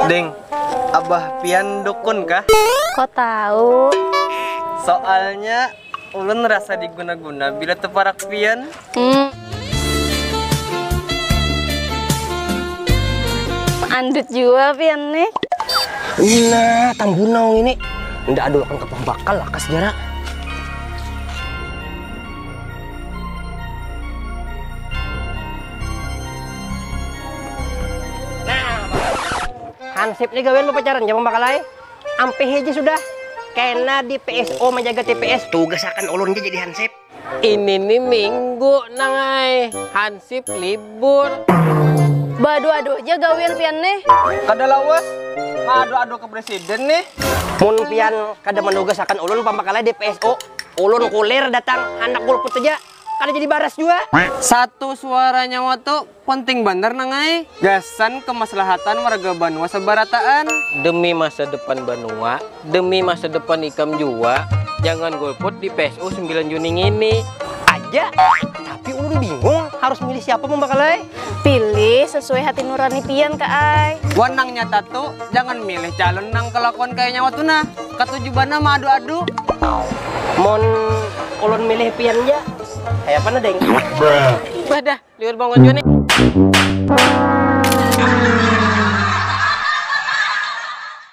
Ding, abah pian dukun kah? Kok tahu? Soalnya ulun rasa diguna-guna bila teparak pian. Hmm. Andut jua pian nih. Ina, tambunau ini. Nda adul akan kapah bakal lakas jara. nah hansip nih gawian mau pacaran ya pembakalan ampe heje sudah kena di pso menjaga tps tugas akan ulun jadi hansip ini nih minggu nangai hansip libur badu adu aja gawian pian nih kada lawas adu adu ke presiden nih mun pian kada menugas akan ulun pembakalan di pso ulun kulir datang handak golput aja. Kada jadi baras jua. Satu suara nyawa tu penting banar nang ai, gasan kemaslahatan warga banua sabarataan. Demi masa depan banua, demi masa depan ikam jua, jangan golput di PSU sembilan Juni ngini. Aja, tapi ulun bingung harus milih siapa pambakal ai. pilih sesuai hati nurani pian ka ai wan nang nyata tu jangan milih calon nang kelakuan kaya nyawa tu nah katuju banar ma adu adu mun ulun milih pian ja kaya apa nah deng bah dah liur bangun jua nih.